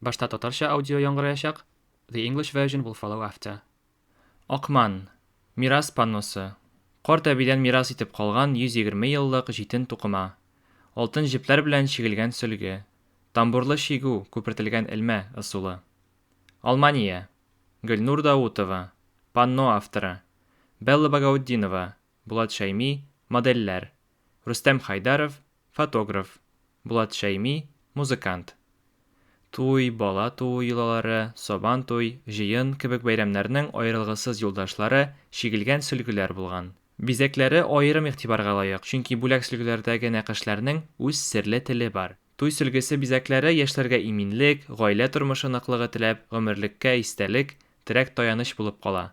Башта татарча аудио яңгыраячак, the English version will follow after. Акман. Мирас панносы. Карт әбидән мирас итеп калган 120 еллык җитен тукыма. Алтын җепләр белән чигелгән сөлге. Тамбурлы чигү, күпертелгән элмә, ысулы. Алмания. Гөлнур Даутова, панно авторы. Белла Багаутдинова, Булат Шәйми, модельләр, Рөстәм Хайдаров, фотограф, Булат Шәйми, музыкант. Туй, бала туу йолалары, Сабан туй, җыен кебек бәйрәмнәрнең аерылгысыз юлдашлары, чигелгән сөлгеләр булган. Бизәкләре аерым игътибарга лаек, чөнки бүләк сөлгеләрдәге нәкышләрнең үз серле теле бар. Туй сөлгесе бизәкләре яшьләргә иминлек, гаилә тормышы ныклыгы теләп, гомерлеккә истәлек, терәк-таяныч булып кала.